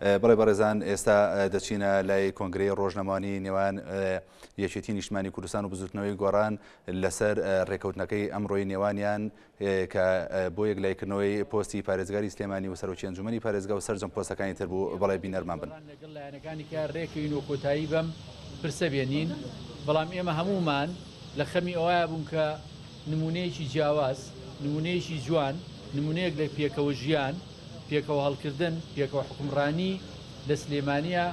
بەڵێ بەڕێزان ئێستا دەچینە لای کۆنگرەی ڕۆژنەمانی نێوان یەکێتی نیشتمانی کوردستان و بزوتنەوەی گۆڕان لەسەر ڕێکەوتنەکەی ئەمڕۆی نێوانیان کە بۆ یەک لایکردنەوەی پۆستی پارێزگاری سلێمانی و سەرۆکی ئەنجومی پارێزگا و سەرجەم پۆستەکانی تر بوو بەڵێ بینەرمان بن لەگەڵ لایەنەکانی کە ڕێکەوین و کۆتایی بەم پرسە بێنین بەڵام ئێمە هەموومان لە خەمی ئەوە بوون کە نموونەیەکی جیاواز، نموونەیەکی جوان، نموونەیەک لە پێکەوە ژیان، پێکەوە هەڵکردن، پێکەوە حوکمڕانی لە سلێمانییە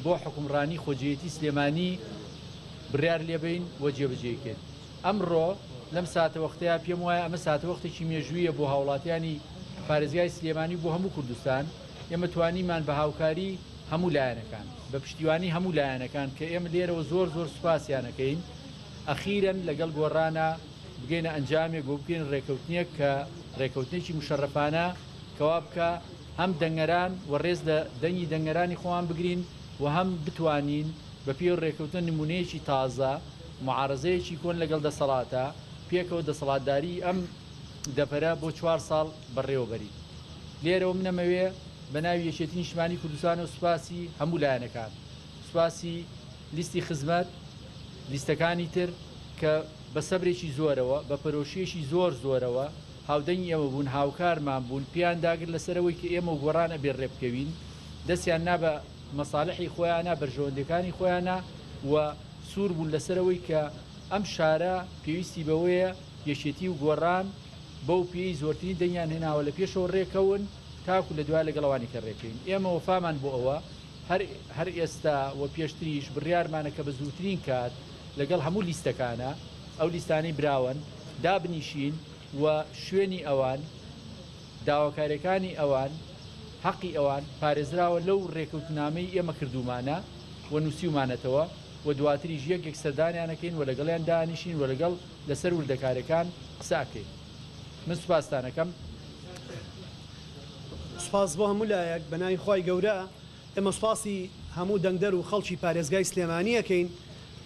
بۆ حوکمڕانی خۆجێیەتی سلێمانی بڕیار لێبەین و جێبەجێی کەین. ئەمڕۆ لەم ساتەوەختەیا پێم وایە ئەمە ساتەوەختێکی مێژووییە بۆ هاوڵاتیانی پارێزگای سلێمانی و بۆ هەموو کوردستان. ئێمە توانیمان بە هاوکاری هەموو لایەنەکان، بە پشتیوانی هەموو لایەنەکان کە ئێمە لێرەوە زۆر زۆر سوپاسیان ئەکەین، ئەخیرەن لەگەڵ گۆڕانا بگەینە ئەنجامێک و بگەینە ڕێکەوتنێک کە ڕێکەوتنێکی موشەڕەفانە کەوا بکا هەم دەنگەران و ڕێز لە دەنگی دەنگەرانی خۆمان بگرین و هەم بتوانین بە پێی ئەو ڕێکەوتنە نموونەیەکی تازە معارەزەیەکی کۆن لەگەڵ دەسەڵاتە پێکەوە دەسەڵاتداریی ئەم دەڤەرە بۆ چوار ساڵ بەڕێوە بەرین. لێرەوە من ئەمەوێ بە ناوی یەکێتی نیشتمانی کوردستان و سوپاسی هەموو لایەنەکان، سوپاسی لیستی خزمەت لیستەکانی تر کە بە سەبرێکی زۆرەوە، بە پەرۆشییەکی زۆر زۆرەوە هاودەنگی ئێمە بوون، هاوکارمان بوون، پێیان داگر لەسەر ئەوەی کە ئێمە و گۆڕان ئەبێ ڕێبکەوین، دەستیان نا بە مەسالحی خۆیانا، بەرژەوەندییەکانی خۆیانا و سوور بوون لەسەر ئەوەی کە ئەم شارە پێویستی بەوەیە یەکێتی و گۆڕان بەو پێیەی زۆرترین دەنگیان هێناوە لە پێشەوە ڕێکەون تاکوو لە دوایە لەگەڵ ئەوانیکە ڕێکەوین. ئێمە وەفامان بۆ ئەوە. هەر ئێستا و پێشتریش بڕیارمانە کە بە زووترین کات لەگەڵ هەموو لیستەکانە، ئەو لیستانەی براوەن، دابنیشین و شوێنی ئەوان، داواکارییەکانی ئەوان، هەقی ئەوان پارێزراوە لەو رێکەوتنامەی ئێمە کردوومانە و نووسیومانەتەوە و دواتریش یەک یەک سەردانیان ئەکەین و لەگەڵیان دانیشین و لەگەڵ لەسەر وردەکارییەکان قسە ئەکەین. من سوپاستان ئەکەم. سوپاس بۆ هەموو لایەک بە ناوی خوای گەورە ئێمە سوپاسی هەموو دەنگدەر و خەڵکی پارێزگای سلێمانی ئەکەین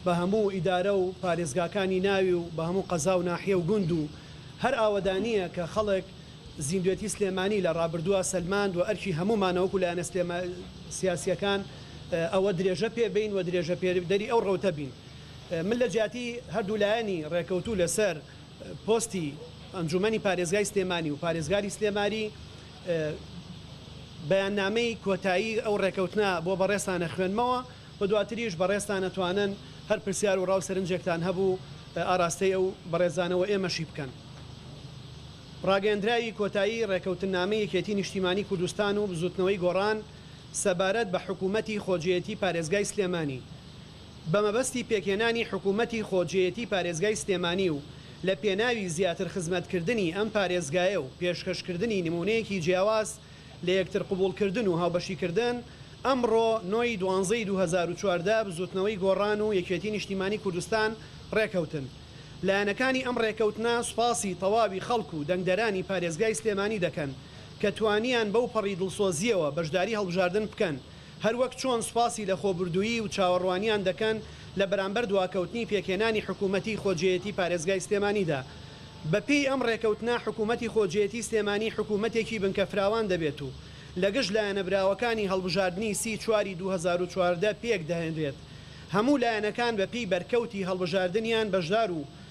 بە هەموو ئیدارە و پارێزگاکانی ناوی و بە هەموو قەزا و ناحیە و گوند و هەر ئاوەدانییە کە خەڵک زیندوێتی سلێمانی لە ڕابردووە سەلماند وە ئەرکی هەموومانە وەکو لایەنە سیاسییەکان ئەوە درێژە پێ بین و درێژە پێدەری ئەو ڕەوتە بین من لە جیاتی هەردوو لایەنی ڕێکەوتوو لەسەر پۆستی ئەنجومەنی پارێزگای سلێمانی و پارێزگاری سلێماری بەیاننامەی کۆتایی ئەو ڕێکەوتنە بۆ بەڕێزتانە خوێنمەوە و دواتریش بەڕێزتان ئەتوانن هەر پرسیار و ڕاو سەرنجێکتان هەبوو ئاراستەی ئەو بەڕێزانەوە ئێمەشی بکەن. ڕاگەیەندراوی کۆتایی ڕێکەوتننامەی یەکێتی نیشتیمانی کوردستان و بزوتنەوەی گۆڕان سەبارەت بە حکومەتی خۆجێیەتی پارێزگای سلێمانی بە مەبەستی پێکهێنانی حکوومەتی خۆجێیەتی پارێزگای سلێمانی و لە پێناوی زیاتر خزمەتکردنی ئەم پارێزگایە و پێشکەشکردنی نموونەیەکی جیاواز لە یەکتر قبووڵکردن و هاوبەشیکردن، ئەمڕۆ نۆ ی دوانزەی دوو هەزار و چواردە بزووتنەوەی گۆڕان و یەکێتی نیشتیمانی کوردستان ڕێکەوتن. لایەنەکانی ئەم ڕێکەوتنە سوپاسی تەواوی خەڵک و دەنگدەرانی پارێزگای سلێمانی دەکەن کە توانیان بەوپەڕی دڵسۆزییەوە بەشداری هەڵبژاردن بکەن هەروەک چۆن سوپاسی لەخۆبوردوویی و چاوەڕوانیان دەکەن لە بەرامبەر دواکەوتنی پێکهێنانی حکوومەتی خۆجێیەتی پارێزگای سلێمانیدا. بە پێی ئەم ڕێکەوتنە حکوومەتی خۆجێیەتی سلێمانی حکوومەتێکی بنکە فراوان دەبێت و لە گشت لایەنە براوەکانی هەڵبژاردنی سی چواری دوو هەزار و چواردە پێک دەهێنرێت هەموو لایەنەکان بە پێی بەرکەوتی هەڵبژاردنیان بەشدار و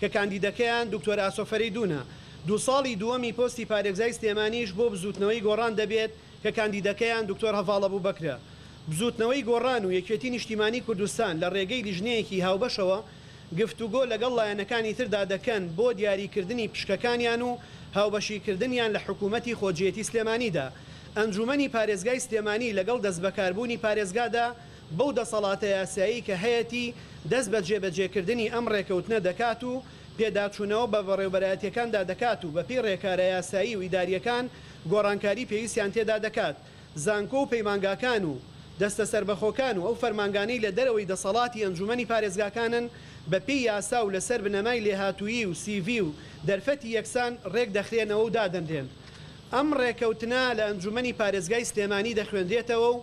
کە کاندیدەکەیان دکتۆر ئاسۆ فەرەیدوونە، دوو ساڵی دووەمی پۆستی پارێزگای سلێمانیش بۆ بزووتنەوەی گۆڕان دەبێت کە کاندیدەکەیان دکتۆر هەڤاڵ ئەبوبەکرە. بزووتنەوەی گۆڕان و یەکێتی نیشتیمانی کوردستان لە رێگەی لیژنەیەکی هاوبەشەوە گفتوگۆ لەگەڵ لایەنەکانی تردا دەکەن بۆ دیاریکردنی پشکەکانیان و هاوبەشیکردنیان لە حکوومەتی خۆجێیەتی سلێمانیدا. ئەنجوومەنی پارێزگای سلێمانی لەگەڵ دەستبەکاربوونی پارێزگادا بەو دەسەڵاتە یاسایی کە هەیەتی دەست بە جێبەجێکردنی ئەم ڕێکەوتنە دەکات و پێداچوونەوە بە بەڕێوبەرایەتییەکاندا دەکات و بەپێی ڕێکارە یاسایی و ئیدارییەکان گۆڕانکاری پێویستیان تێدا دەکات زانکۆ و پەیمانگاکان و دەستە سەربەخۆکان و ئەو فەرمانگانەی لە دەرەوەی دەسەڵاتی ئەنجوومەنی پارێزگاکانن بەپێی یاسا و لەسەر بنەمای لێهاتوویی و سیڤی و دەرفەتی یەکسان ڕێک دەخرێنەوە و دادەنرێن ئەم ڕێکەوتنە لە ئەنجوومەنی پارێزگای سلێمانی دەخوێنرێتەوە و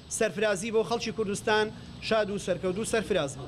سەرفرازی بۆ خەڵکی کوردستان شاد و سەرکەوت و سەرفراز بن.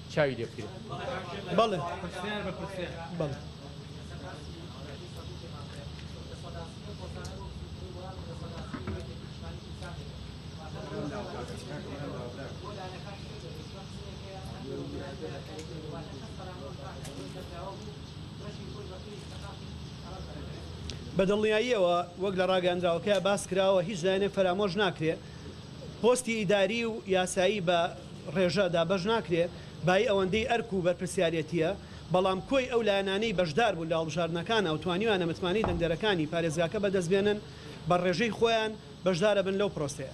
چاوی لێ بکرێت بەڵێ پرسیار بە پرسیار بەڵێ بە دڵنیاییەوە وەک لە ڕاگەندراوەکە باس کراوە هیچ لایەنێک فەرامۆش ناکرێ پۆستی ئیداری و یاسایی بە ڕێژە دابەش ناکرێ بایی ئەوەندەی ئەرک و بەرپرسیارێتییە، بەڵام کۆی ئەو لایەنانەی بەشدار بوون لە هەڵبژاردنەکانە و توانیویانە متمانەی دەنگدەرەکانی پارێزگاکە بەدەست بێنن، بە ڕێژەی خۆیان بەشدارە بن لەو پرۆسەیە.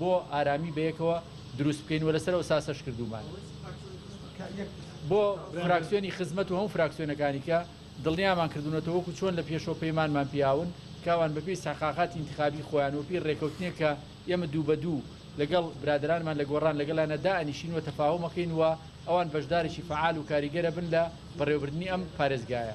بۆ ئارامی بەیەکەوە دروست بکەین و لەسەر ئەوساسەش کردومان بۆ فراکسیۆنی خزمەت و هەم فراکسیۆنەکانی کە دڵنیامان کردونەتەوە وەکو چۆن لە پێشەوە پەیمانمان پیاون کاوان بەپی سەقاقاتی انتخابی خۆیان و پێی ڕێکەوتنێک کە ئێمە دوو بە دوو لەگەڵ برادرانمان لە گۆڕان لەگەڵیانە دائەنیشین و تەفاهمەکەین و ئەوان بەشدارێکی فەعال و کاریگەرە بن لە بەڕێوەبردنی ئەم پارێزگایە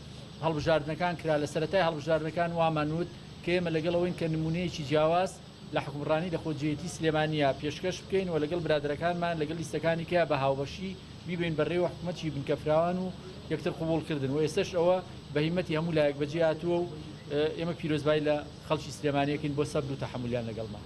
هەڵبژاردنەکان کرا، لە سەرەتای هەڵبژاردنەکان وامان وت کە ئێمە لەگەڵ ئەوەین کە نموونەیەکی جیاواز لە حوکمڕانی لە خۆجێیەتی سلێمانییە پێشکەش بکەین و لەگەڵ برادەرەکانمان لەگەڵ لیستەکانی کیا بە هاوبەشی بیبەین بەڕێوە حکومەتیی بنکەفراوان و یەکتر قبووڵکردن و ئێستەش ئەوە بە هیمەتی هەموو لایەک بەجێ هاتووە و ئێمە پیرۆزبایی لە خەڵکی سلێمانییەکەین بۆ سەبر و تەحەمولیان لەگەڵمان.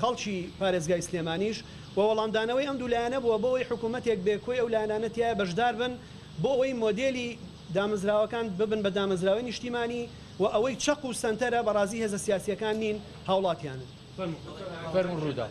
خەڵکی پارێزگای سلێمانیش و وەڵامدانەوەی ئەم دوو لایەنە بووە بۆ ئەوەی حکوومەتێک بێ کۆی ئەو لایەنانە تیایا بەشدار بن بۆ ئەوەی مۆدێلی دامەزراوەکان ببن بە دامەزراوەی نیشتیمانی و ئەوەی چەق و سەنتەرە بەڕازی هێزە سیاسییەکان نین هاوڵاتیانن. فەرموو رووداو.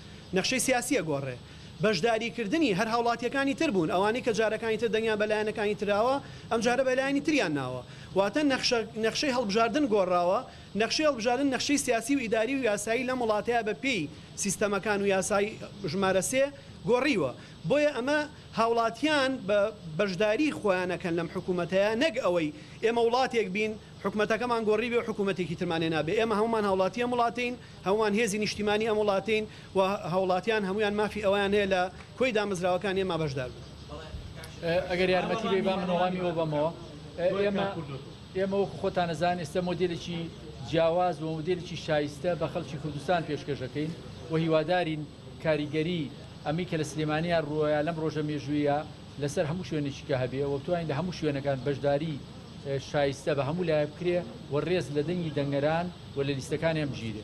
نەخشەی سیاسی ئەگۆڕێ. بەشداری کردنی هەر هاوڵاتیەکانی تر بوون ئەوانەی کە جارەکانی تر دەنگیان بە لایەنەکانی تراوە ئەم جارە بە لایەنی تریان ناوە واتە نەخشە نەخشەی هەڵبژاردن گۆڕاوە نەخشەی هەڵبژاردن نەخشەی سیاسی و ئیداری و یاسایی لەم وڵاتە بە پێی سیستەمەکان و یاسای ژمارە سێ گۆڕیوە بۆیە ئەمە هاوڵاتیان بە بەشداری خۆیان ئەکەن لەم حکومەتە نەک ئەوەی ئێمە وڵاتێک بین حکومەتەکەمان گۆڕیبێ و حکومەتێکی ترمان هێنابێ ئێمە هەموومان هاوڵاتی ئەم وڵاتەین هەموومان هێزی نیشتیمانی ئەم وڵاتەین و هاوڵاتیان هەموویان مافی ئەوەیان هەیە لە کۆی دامەزراوەکانی ئێمە بەشدار بن. ئەگەر یارمەتی بێی با من وەڵامی ئەوە بەمەوە. ئێمە ئێمە وەکو خۆتان ئەزان ئێستە مۆدێلێکی جیاواز و مۆدێلێکی شایستە بە خەڵکی کوردستان پێشکەش دەکەین و هیوادارین کاریگەری ئەمەی کە لە سلێمانیان رووەیە لەم رۆژە مێژوویە لەسەر هەموو شوێنێکی کە هەبێ و بتوانین لە هەموو شوێنەکان بەشداری شایستە بە هەموو لایەک بکرێ و رێز لە دەنگی دەنگەران و لە لیستەکانیان بگیرێ.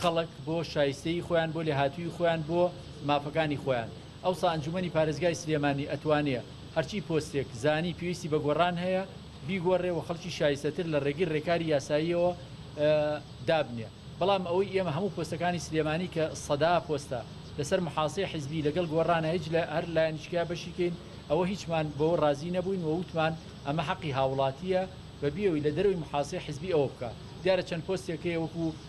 خەڵک بۆ شایستەیی خۆیان بۆ لێهاتوویی خۆیان بۆ مافەکانی خۆیان ئەوسا ئەنجومەنی پارێزگای سلێمانی ئەتوانێ هەرچی پۆستێک زانی پێویستی بە گۆڕان هەیە بیگۆڕێ و خەڵکی شایستەتر لە ڕێگەی ڕێکاری یاساییەوە دابنێ بەڵام ئەوەی ئێمە هەموو پۆستەکانی سلێمانی کە سەدا پۆستە لەسەر محاسەی حیزبی لەگەڵ گۆڕانە هیچ لە هەر لایەنیشکە بەشیکەین ئەوە هیچمان بەوە ڕازی نەبووین و وتمان ئەمە حەقی هاوڵاتیە بە بیەوەی لە دەرەوەی محاسەی حیزبی ئەوە بکە دیارە چەند پۆستێک هەیە وەکو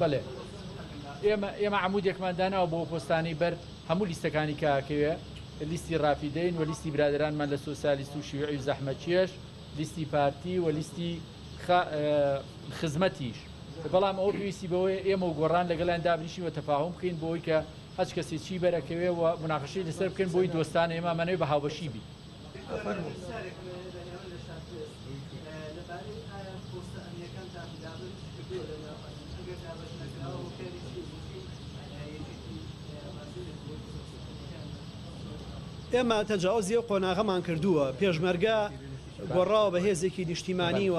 بەلێ ئێمە ئێمە عمودێکمان داناوە بۆ پۆستانی بەر هەموو لیستەکانی کاکەوێ لیستی ڕافیدەین و لیستی برادرانمان لە سوسیالیست و شیوعی و زەحمەچێش لیستی پارتی و لیستی خزمەتیش بەڵام ئەو پێویستی بەوەی ئێمە و گۆڕان لەگەڵیان دابنیشی و تەفاهم بکەین بۆی کە هەچ کەسی چی بەرەکەوێ و مناقەشی لەسەر بکەین بۆی دۆستان ئێمە منەوەی بە هاوبەشی بی ئێمە تەجاوزی ئەو قۆناغەمان کردووە پێشمەرگە گۆڕاوە بە هێزێکی نیشتیمانی و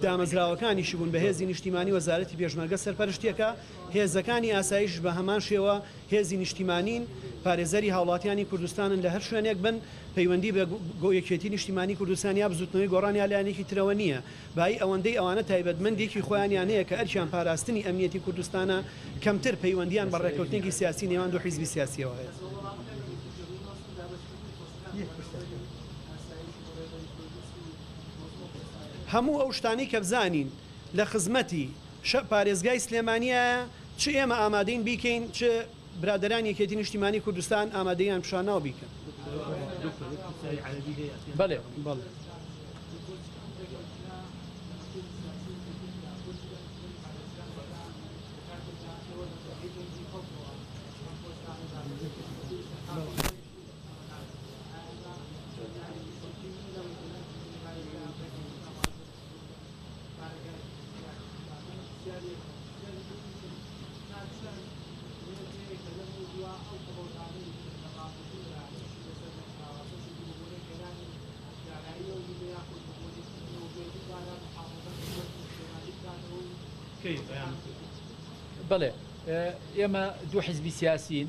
دامەزراوەکانیشی بوون بە هێزی نیشتیمانی وەزارەتی پێشمەرگە سەرپەرشتیەکە هێزەکانی ئاسایش بە هەمان شێوە هێزی نیشتیمانین، پارێزەری هاوڵاتیانی کوردستانن لە هەر شوێنێک بن، پەیوەندی بە گو یەکێتی نیشتیمانی کوردستان یا بزوتنەوەی گۆڕان یا لایەنێکی ترەوە نیە، بایی ئەوەندەی ئەوانە تایبەتمەندیەکی خۆیانیان هەیە کە ئەرکیان پاراستنی ئەمنیەتی کوردستانە، کەمتر پەیوەندیان بە ڕێکەوتنێکی سیاسی نێوان دوو حیزبی سیاسیەوە هەیە. هەموو ئەو شتانەی کە بزانین لە خزمەتی شە پارێزگای سلێمانیایە، چ ئێمە ئامادەین بیکەین چ برادەرانی یەکێتی نیشتیمانی کوردستان ئامادەیان پیشاناو بیکەن. بەلێ بەڵێ. بەڵێ ئێمە دوو حزبی سیاسین.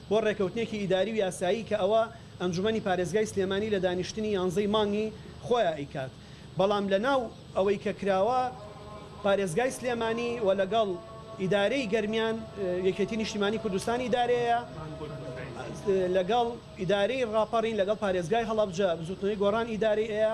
بۆ ڕێکەوتنێکی ئیداری و یاسایی کە ئەوە ئەنجومەنی پارێزگای سلێمانی لە دانیشتنی یانزەی مانگی خۆیا ئەیکات بەڵام لە ناو ئەوەی کە کراوە پارێزگای سلێمانی وە لەگەڵ ئیدارەی گەرمیان یەکێتی نیشتیمانی کوردستان ئیدارەیە لەگەڵ ئیدارەی ڕاپەڕین لەگەڵ پارێزگای هەڵەبجە بزوتنەوەی گۆڕان ئیدارەی ئەیە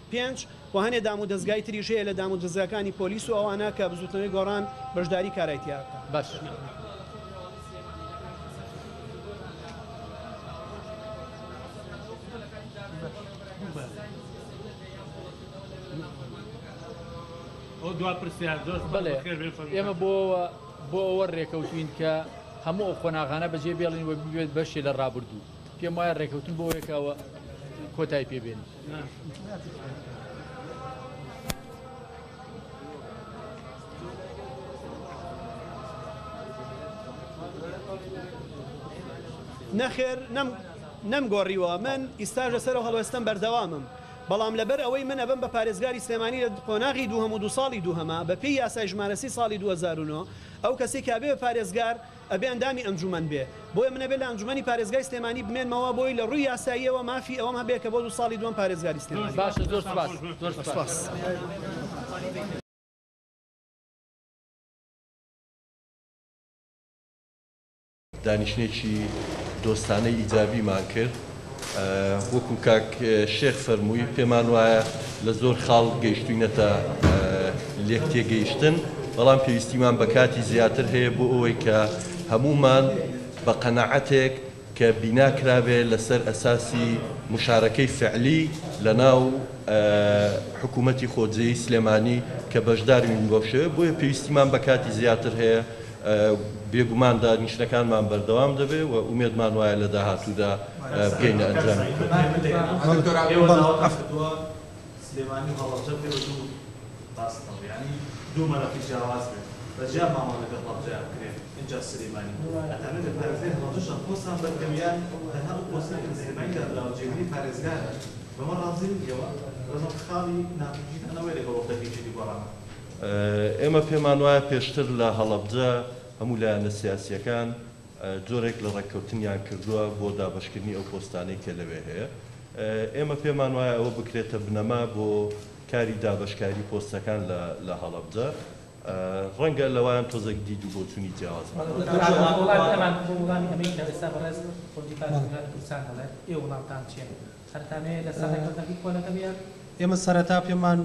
پێنج، و هەنێ دام و دەزگای تریش هەیە لە دام و دەزگاکانی پۆلیس و ئەوانە کە بزوتنەوەی گۆڕان بەشداری کارای تیا ئەکا. بەس. بەڵێ ئێمە بۆ ئەوە بۆ ئەوە ڕێکەوتین کە هەموو ئەو قۆناغانە بەجێ بێڵین و ببێت بەشێ لە ڕابردوو پێم وایە ڕێکەوتن بۆ یەکەوە کۆتای پێبێنین. نەخێر نەم نەم گۆڕیوە من ئیستاژ لەسەر هەڵوێستم بەردەوامم بەڵام لەبەر ئەوەی من ئەبم بە پارێزگاری سلێمانی لە قۆناغی دووهەم و دو ساڵی دووهەمە بەپێی یاسای ژمارەسی ساڵی 2009 ئەو کەسی کابێ پارێزگار ئەبێ ئەندامی ئەنجومەن بێ بۆیە من ئەبێ لە ئەنجومەنی پارێزگای سلێمانی بمێنمەوە بۆی لە ڕووی یاساییەوە مافی ئەوەم هەبێ کە بۆ دوو ساڵی دووەم پارێزگاری سلێمانی بم. باشە زۆر سوپاس زۆر سوپاس. دانیشتنێکی دۆستانەی ئیجابیمان کرد. وەکو کاک شێخ فەرمووی پێمان وایە لە زۆر خاڵ گەیشتوینەتە لێک تێگەیشتن بەڵام پێویستیمان بە کاتی زیاتر هەیە بۆ ئەوەی کە هەمومان بە قەنەعەتێک کە بینا کرابێ لەسەر ئەساسی مشارەکەی فعلی لە ناو حکوومەتی خۆجێی سلێمانی کە بەشداروین بەو شێوە بۆیە پێویستیمان بە کاتی زیاتر هەیە بێگومان دانیشتنەکانمان بەردەوام دەبێت و ئومێدمان وایە لە داهاتوودا بگەینە ئەنجامی خۆت. ئێمە پێمان وایە پێشتر لە هەڵەبجە هەموو لایەنە سیاسییەکان جۆرێک لە ڕێککەوتنیان کردووە بۆ دابەشکردنی ئەو پۆستانەی کە لەوێ هەیە. ئێمە پێمان وایە ئەوە بکرێتە بنەما بۆ کاری دابەشکاری پۆستەکان لە هەڵەبجە. ڕەنگە لەوان تۆزێک دید و بۆچونی جیاوازمان هەبێت. سەرکانەیە لەسەر ڕێکەوتنەکەی کۆ لەگەڵ یەک. ئێمە سەرەتا پێمان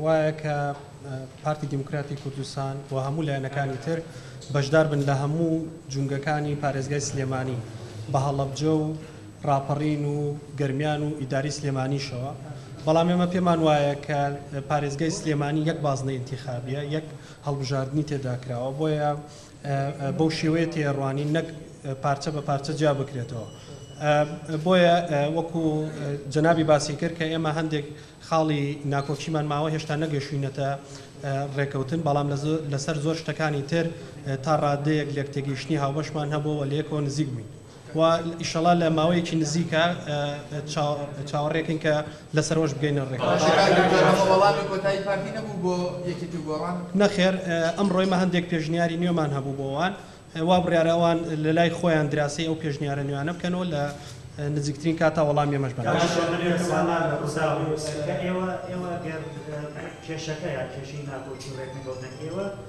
وایە کە پارتی دیموکراتی کوردستان و هەموو لایەنەکانی تر بەشدار بن لە هەموو جومگەکانی پارێزگای سلێمانی بە هەڵەبجە و ڕاپەڕین و گەرمیان و ئیدارەی سلێمانیشەوە بەڵام ئێمە پێمان وایە کە پارێزگای سلێمانی یەک بازنەی ئینتیخابیە یەک هەڵبژاردنی تێدا کراوە بۆیە بەو شێوەیە تێیەڕوانین نەک پارچە بە پارچە جیا بکرێتەوە. بۆیە وەکو جەنابی باسی کرد کە ئێمە هەندێک خاڵی ناکۆکیمان ماوە هێشتا نەگەشوینەتە ڕێکەوتن، بەڵام لەسەر زۆر شتەکانی تر تا ڕادەیەک لێکتێگەیشتنی هاوبەشمان هەبووە و لەیەکەوە نزیک بووین. وە ئیشەڵا لە ماوەیەکی نزیکە چاوەڕێکەین کە لەسەرەوەش بگەینە ڕێککەوتن. نەخێر ئەمڕۆیمە هەندێک پێشنیاری نوێمان هەبوو بۆ وان وا بڕیارە ئەوان لەلای خۆیان دراسەی ئەو پێشنیارە نوێیانە بکەن و لە نزیکترین کاتا وەڵامی ئێمەش بەناوبەن.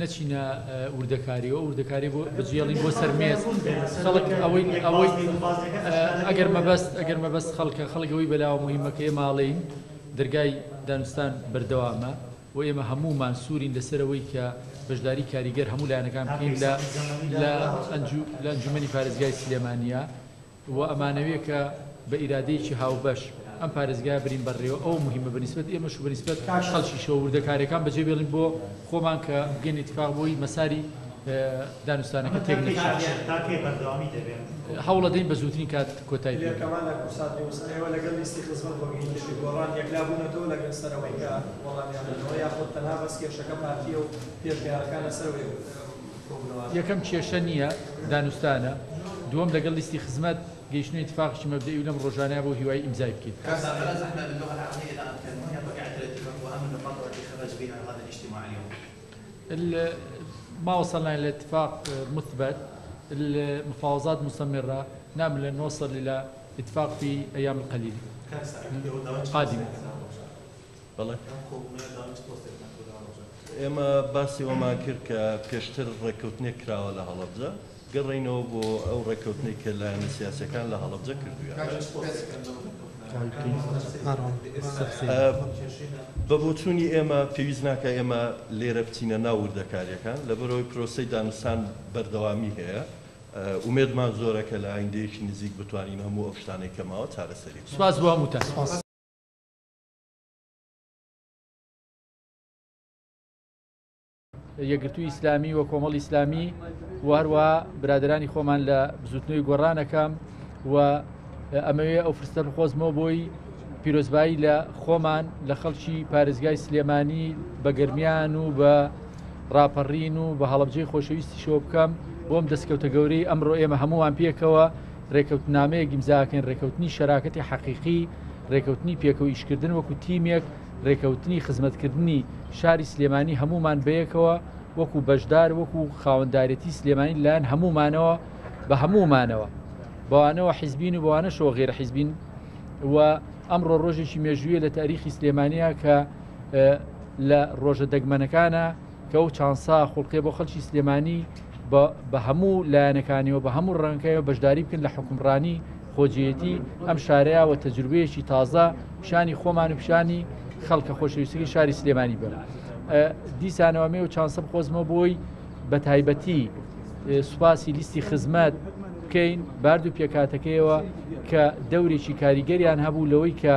نەچینە وردەکاریەوە ئەو وردەکاریە بۆ بجێڵین بۆ سەر مێز خەڵک ئەوەی ئەوەی ئەگەر مەبەست ئەگەر مەبەست خەڵکە خەڵک ئەوەی بەلاوە مهمە کە ئێ ماڵین دەرگای دانوستان بەردەوامە و ئێمە هەموومان سوورین لەسەرەوەی کە بەشداری کاریگەر هەموو لایەنەکان بکەین لە لە ئەنجومەنی پارێزگای سلێمانیە وە ئەمانەوێ کە بە ئیرادەیەکی هاوبەش ئەم پارێزگایە برین بەڕێوە ئەوە موهیمە بە نیسبەت ئێمەش و بە نیسبەت خەڵکیشەوە وردەکارەکان بەجێ بێڵین بۆ خۆمان کە بگەین ئیتفاق بۆی مەساری دانوستانەکە تێک نەچێت. هەوڵەدەین بە زوترین کات کۆتای پێبێت. یەکەم کێشە نییە، دانوستانە. دووەم لەگەڵ لیستی خزمەت، گەیشتنە ئیتفاقێکی مەبدەئی و لەم ڕۆژانەیە بۆ هیوایی ئیمزای بکەیت. ئێمە باسی ئەوەمان کرد کە پێشتر ڕێککەوتنێک کراوە لە هەڵەبجە، گەڕێینەوە بۆ ئەو ڕێککەوتنەی کە لایەنە سیاسییەکان لە هەڵەبجە کردوویانە. بە بۆچوونی ئێمە پێویست ناکات ئێمە لێرە بچینە ناو وردەکارییەکان، لەبەرئەوەی پرۆسەی دانوستان بەردەوامی هەیە. ئومێدمان زۆرە کە لە ئایندەیەکی نزیک بتوانین هەموو ئەو شتانەی کە ماوە چارەسەری بکەین. یەکگرتووی ئیسلامی و کۆمەڵ ئیسلامی و هەروە برادرانی خۆمان لە بزوتنەوەی گۆڕانەکەم و ئەمەوێ ئەو فرستەر خۆزمەوە بۆی پیرۆزبایی لە خۆمان لە خەڵکی پارێزگای سلێمانی بە گرمیان و بە ڕاپەڕین و بە هەڵبجەی خۆشەویستی شۆ بکەم بۆم دەستکەوتە گەورەی ئەمڕۆ ئێمە هەمووان پێکەوە رێکەوتنامەیەک ئیمزاکەین، رێکەوتنی شەراکەتی حەقیقی، رێکەوتنی پێکەوە ئیشکردن وەکو تیمێک، رێکەوتنی خزمەتکردنی شاری سلێمانی هەموومان بەیەکەوە وەکو بەشدار وەکو خاوەندارێتی سلێمانی لەلایەن هەموومانەوە بە هەموومانەوە بەوانەوە حیزبین و بەوانەشەوە غێرە حیزبین و ئەمڕۆ رۆژێکی مێژوویە لە تاریخی سلێمانیە کە لە رۆژە دەگمەنەکانە کە ئەو چانسە خوڵقێ بۆ خەلکی سلێمانی بە هەموو لایەنەکانیەوە بە هەموو ڕەنگەکەەوە بەشداری بکەن لە حکومڕانی خۆجیەتی ئەم شارەیەوە تەجروبەیەکی تازە پیشانی خۆمان و پیشانی خەڵکە خۆشەویستەکەی شاری سلێمانی بەر دیسانەوەمێ و چانسە بخۆزمە بۆی بە تایبەتی سوپاسی لیستی خزمەت بکەین بارد و پێکاتەکەیەوە کە دەورێکی کاریگەریان هەبوو لەوەی کە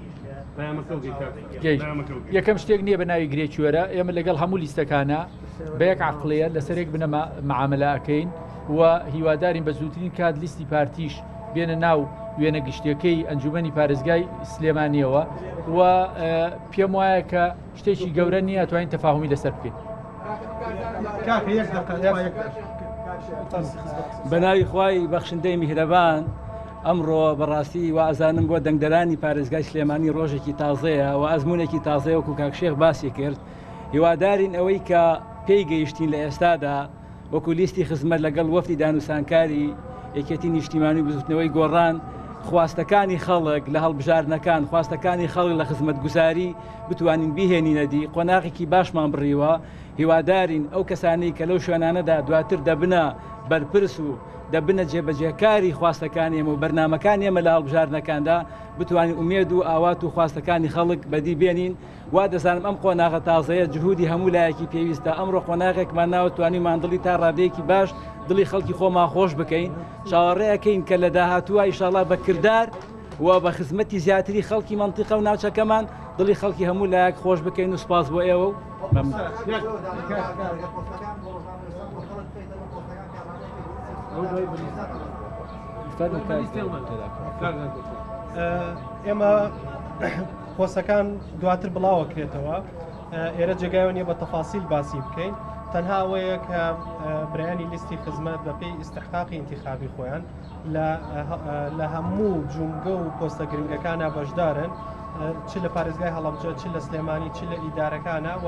یەکەم شتێک نییە بە ناوی گرێکوێرە ئێمە لەگەڵ هەموو لیستەکانە بە یەک عقلەیە لەسەرێک بنەما معاملەکەین و هیوادارین بە زووترین کات لیستی پارتیش بێنە ناو وێنە گشتەکەی ئەنجومی پارێزگای سلێمانیەوە و پێم وایە کە شتێکی گەورە نییە توانین تەفاهمی لەسەر بکەین. بەناوی خی بەخشندەی میهرەبان ئەمڕۆ بەڕاستی وازانم بۆ دەنگدەرانی پارێزگای سلێمانی ڕۆژێکی تازەیە و ئەزمونێکی تازەیە وکو کاکشێخ باسی کرد هیوادارین ئەوەی کە پێی گەیشتین لە ئێستادا وەکو لیستی خزمەت لەگەڵ وەفتی دانوسانکاری یەکێتی نیشتیمانی بزوتنەوەی گۆڕان خواستەکانی خەڵک لە هەڵبژاردنەکان خواستەکانی خەڵک لە خزمەت گوزاری بتوانین بهێنینەدی قۆناغێکی باشمان بڕیوە هیوادارین ئەو کەسانی کە لەو شوێنانەدا دواتر دەبنە بەرپرس و دەبنە جێبەجێکاری خواستەکانی ئێمە و بەرنامەکانی ئێمە لە هەڵبژاردنەکاندا بتوانین ئومێد و ئاوات و خواستەکانی خەڵک بەدی بێنین وا دەزانم ئەم قۆناغە تازەیە جهودی هەموو لایەکی پێویستە ئەمڕۆ قۆناغێکمان ناوە توانی ماندڵی تا ڕادەیەکی باش دڵی خەڵکی خۆمان خۆش بکەین چاوەڕێەکەین کە لە داهاتووە ئیشاڵا بە کردار و بە خزمەتی زیاتری خەڵکی منتیقە و ناوچەکەمان دڵی خەڵکی هەموو لایەک خۆش بکەین و سپاس بۆ ئێوە و ئێمە پۆسەکان دواتر بڵاوەکرێتەوە ئێرە جێگایەوە نیە بە تەفاسیل باسی بکەین تەنها ئەوەیە کە برانی لیستی خزمەت بەپی ئیسحقاقی انتخابی خۆیان لە هەموو جومگە و پۆستە گرنگەکانە بەشدارن چ لە پارێزگای هەڵمجە چ لە سلێمانی چ لە ئیدارەکانە و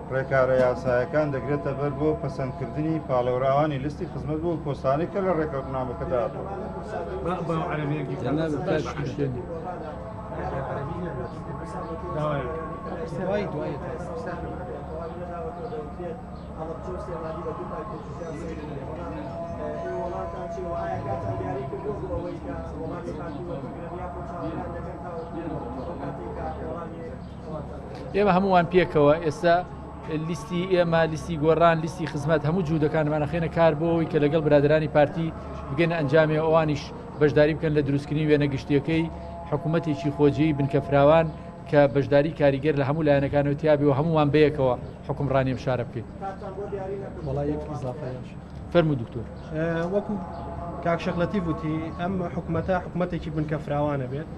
ڕێکارە یاسایەکان دەگرێتە بەر بۆ پەسەندکردنی پاڵێوراوانی لیستی خزمەت بۆ ئەو پۆستانەی کە لە ڕێکەوتنامەکەدا ئێمە هەمووان پێکەوە ئێستا لیستی ئێمە لیستی گۆڕان لیستی خزمەت هەموو جوودەکانمانەخێنە کار بۆەوەی کە لەگەڵ برادرانی پارتی بگەنە ئەنجامی ئەوانیش بەشداری بکەن لە دروستکردنی وێنە گشتیەکەی حکوومەتێکی خۆجێی بنکەفراوان کە بەشداری کاریگەر لە هەموو لایەنەکانەوە تیاابی و هەمووان بەیەکەوە حکومڕانیم شارە بکەین فەرمو دکتۆر. وەکو کاک شێخ لەتیف وتی ئەم حکومەتە حکومەتێکی بنکە فراوانە بێت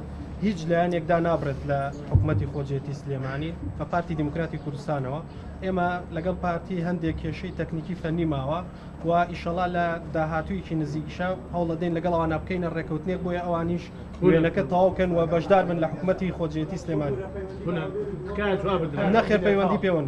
هیچ لایەنێک دا نابرێت لە حکومەتی خۆجێتی سلێمانی بە پارتی دیموکراتی کوردستانەوە ئێمە لەگەڵ پارتی هەندێک کێشەی تەکنیکی فەنی ماوە و ئیشەڵا لە داهاتوویەکی نزیکشە هەوڵەدەین لەگەڵ ئەوانە بکەینە ڕێکەوتنێک بۆیە ئەوانیش وێنەکە تەواوکەن و بەشدار بن لە حکومەتی خۆجێتی سلێمانی نەخێر پەیوەندی پێوەند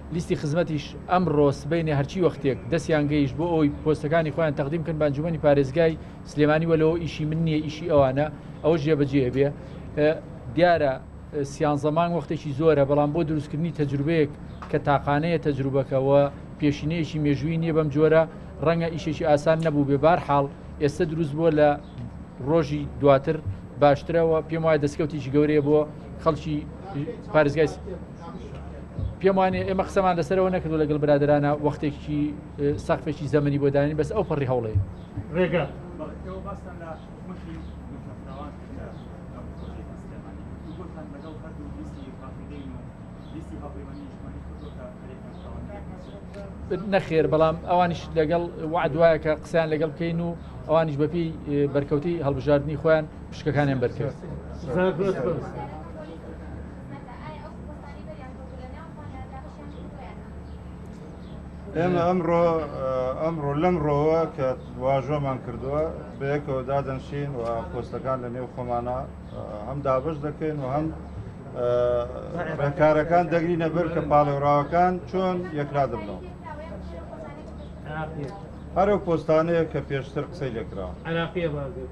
لیستی خزمەتیش ئەمڕۆ سبەینێ هەرچی وەختێک دەستیان گەیشت بۆ ئەوەی پۆستەکانی خۆیان تەقدیم بکەن بە ئەنجومەنی پارێزگای سلێمانی وەلۆ ئیشی من نییە ئیشی ئەوانە ئەوە جێبەجێ بێ دیارە سیانزە مانگ وەختێکی زۆرە بەڵام بۆ دروستکردنی تەجروبەیەک کە تاقانەیە تەجروبەکەەوە پێشینەیەکی مێژووی نییە بەم جۆرە ڕەنگە ئیشێکی ئاسان نەبوو بێ بار حاڵ ئێستا دروست بووە لە ڕۆژی دواتر باشترەوە پێم وایە دەستکەوتیی گەورەیە بۆ خەڵکی پارێزگای پێم وانێ ئێمە قسەمان لەسەرەوە نەکردو لەگەڵ برادرانە وەختێکی سەقفێکی زەمەنی بۆ داین بەس ئەو پەڕی هەوڵێ ڕێگە نەخێر بەڵام ئەوانیش لەگەڵ وعدواە کە قسەیان لەگەڵ بکەین و ئەوانیش بەپی بەرکەوتی هەڵبژاردننی خۆیان پشکەکانیان بەرکرد. ئێمە ئەمڕۆ ئەمڕۆ لەم ڕۆوە کە واژۆمان کردووە بەیەکەوە دادەنشین و پۆستەکان لە نێو خۆمانە هەم دابش دەکەین و هەم ڕێکارەکان دەگری نەبەر کە پاڵێوراوەکان چۆن یەکلا دەبنەوە هەرو پۆستانەیە کە پێشتر قسەی لەکراوە عراقیە بازێت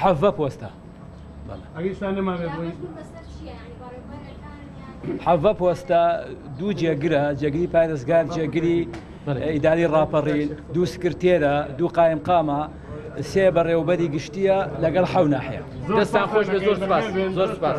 حەڤە پۆستە حەڤە پۆستە دوو جێگرە جێگری پارێزگار جێگری ئیداری ڕاپەڕی دوو سکرتێرە دوو قایم قامە سێ بەڕێوبەری گشتیە لەگەڵ حەوناحەیە دەستان خۆش بە زۆر سپاس زۆر سپاس.